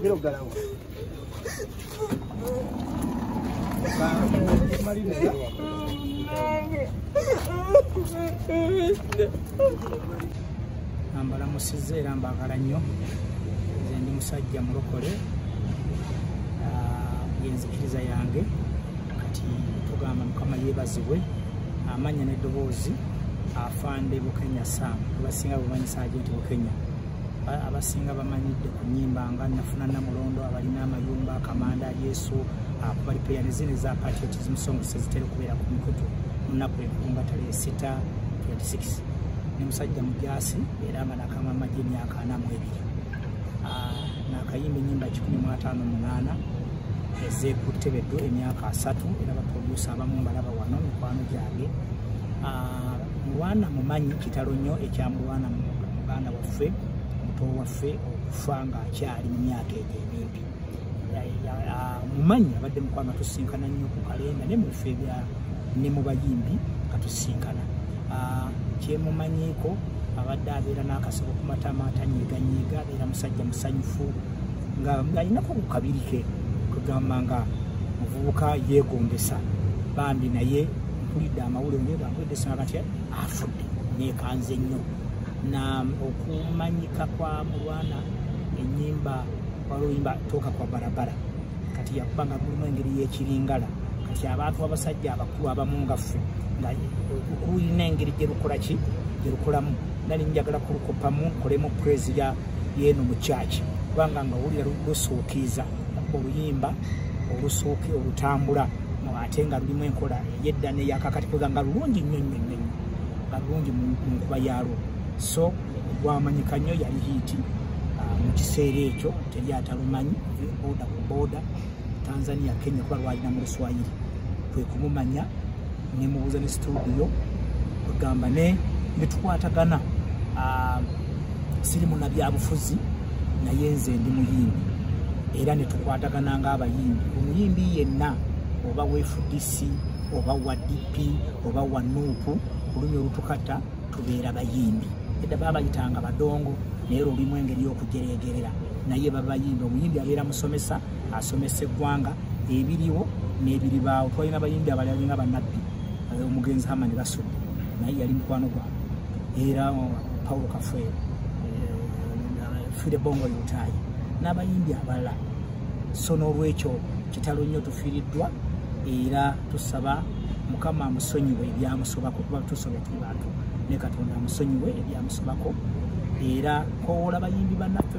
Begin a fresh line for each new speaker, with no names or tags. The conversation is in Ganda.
Quiero ganar. mbalamusizza era mbaagala nnyo nze ndi musajja mulokole ah, yenzikiriza yange kati tugamba mukama yebazibwe amanya n'eddoboozi afande bukenya sam abasinga bumanyi sajenti bukenya abasinga bamanyidde ku nyimba nga nafuna namulondo abalina amayumba akamanda yesu akubali peya nezina eza patriotism song sezitera okubeera ku mikutu munaku enkunga tale esita 26 ne musajja mujasi era nga nakama majini akanamu ebiri ah, nakayimba enyimba 158 ezekutebedo emyaka asatu era baprodusa abamu mbalaba wano mikwano gyange ah, mulwana mumanyi kitalo nnyo ekyamulwana muganda waffe muto waffe okufa nga akyali mu myaka egyo emimpi ah, mumanyi abadde mukwano tusinkana nnyo ku kalenda ne mubife ebya ne mu bayimbi katusinkana ah, kyemumanyiiko abadde abeera n'akasabo ku matama atanyiiganyiiga abeera musajja musanyufu nga alinako ku kabiri ke kugamba nga muvubuka yeegombesa bambi naye mpulidde amawulire naye bambuedde sanga nti afudde neekanze nnyo na okumanyika kwa mulwana ennyimba oluyimba tooka kwa barabara kati yakuba nga mulimu engeri y'ekiringala kati abantu abasajja abakulu abamu nga ffe nga kulina engeri gye lukola ki gye lukolamu nali njagala kulukopamu nkolemu purezi ya yeeno mu kyaki kubanga nga wulira lusuukiiza oluyimba olusuuki olutambula ate nga lulimu enkola eyedda neyakakati kuga nga lulungi nnyo nnyo nnyo nga lulungi mu nkuba yaalwo so gwamanyika nnyo yali hiiti ah, mu kiseera ekyo teri atalumanyi boda ku boda tanzania kenya kuba lwalina mu luswayiri kwe kumumanya nemubuuza ne situdiyo kwegamba ne netukwatagana ah, siri munabyabufuzi naye nze ndi muyimbi era netukwatagana ngaabayimbi omuyimbi yenna oba wefudisi oba wa dp oba wa nuupu olunyi olutukata tubeera bayimbi edda babayitanga badongo naye lulimu engeri y'okujereegerera naye babayimbi omuyimbi abeera musomesa asomesa eggwanga ebiriwo n'ebiribaawo twalina bayimbi abalala nga banabbi eh, omugenzi hama ne basudde naye yali mukwano gwange era oh, paulo kafwe eh, fire bongo lutayi n'abayimbi abalala so n'olwekyo kitalo nnyo tufiiriddwa era tusaba mukama amusonyiwe ebyamusobako kuba tusobya tuli bantu ne katonda amusonyiwe ebyamusobako era kowoola bayimbi bannaffe